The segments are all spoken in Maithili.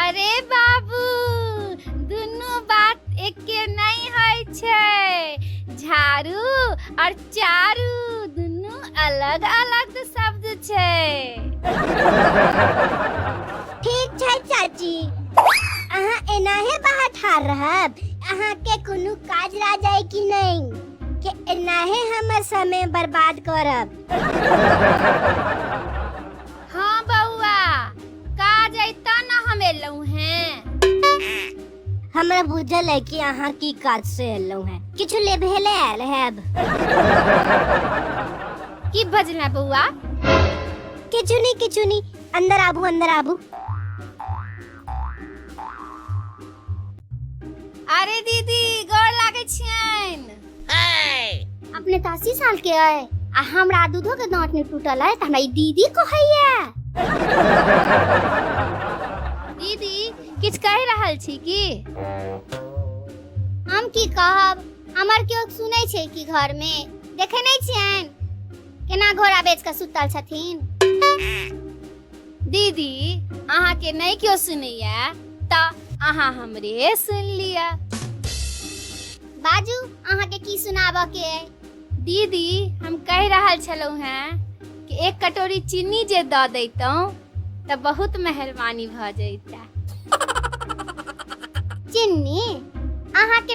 अरे बाबू दुनू बात एके नहीं होइ छै झाड़ू और चारू दुनू अलग अलग शब्द छै ठीक छै चाची अहाँ एनाहे बाहर ठार रहब अहाँ के कोनो काज रह जाए कि नहीं के एनाहे हमर समय बर्बाद करब हाँ बउआ काज अइता ना हम एलहुँ हैं हमरा बुझल है कि अहाँ की काज से एलहुँ हैं किछु ले भेले आयल हैब की बजला बउआ किछु नहीं किछु नहीं अंदर आबू अंदर आबू अरे दीदी गोर लागै छियनि अपने तऽ अस्सी साल के अय आ हमरा दूधो के दांत ने टूटल है तऽ हमरा ई दीदी कहैया दीदी किछ कहि रहल छी की हम की कहब हमर केओ सुनै छै कि घर में देखे नहि छियनि केना घोड़ा बेच कऽ सुतल छथिन दीदी अहाँ के नहीं क्यों सुनैया त अहाँ हमरे सुन लिया बाजू अहाँ के की सुनाबऽ के अइ दीदी हम कह रहल छलहुँ हैं कि एक कटोरी चीनी जे दऽ दैतहुँ तऽ बहुत मेहरबानी भऽ जैता चिन्नी अहाँ के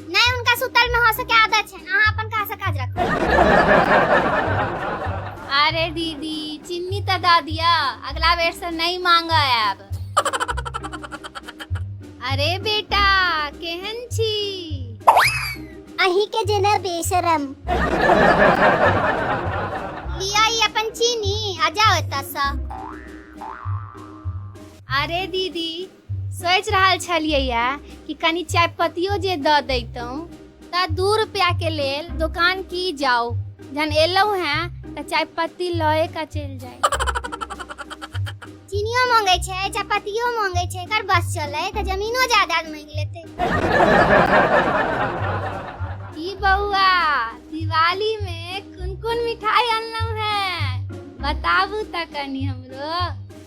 नहीं उनका सुतल में हंसे के आदत है अहाँ अपन कहाँ से काज रखब अरे दीदी चिन्नी तो दा दिया अगला बेर से नहीं मांग आब अरे बेटा केहन छी अही के जेना बेशरम लिया ई अपन चीनी आ जाओ एतऽ से अरे दीदी सोचि रहल छलियैए कि कनि चाय पत्तियो जे दऽ दैतहुँ तऽ दू रुपैआके लेल दोकान की जाउ जहन एलहुँ हेँ तऽ चाय पत्ती लए कऽ चलि जाय चीनियो मांगे छै चपातियो मांगे छै एकर बस चले तऽ जमीनो जायदाद मांगि लेते की बौआ दिवाली में कोन कोन मिठाई अनलहुं हैं बताबू तऽ कनी हमरो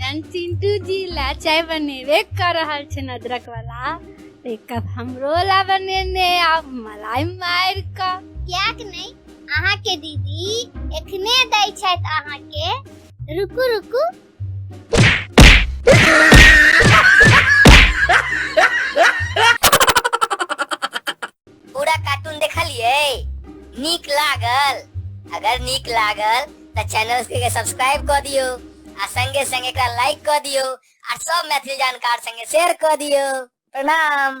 जन चिंटू जी ला चाय बनेबे कर रहल छै अदरक वाला तो एक कप हमरो ला बनेने आप मलाई मार का क्या कि नहीं अहाँ के दीदी एखने दै छथि अहाँ के रुकू रुकू पूरा कार्टून देखलिए नीक लागल अगर नीक लागल तो चैनल के सब्सक्राइब कर दियो आ संगे संगे एकरा लाइक कर दियो आ सब मैथिली जानकार संगे शेयर कर दियो प्रणाम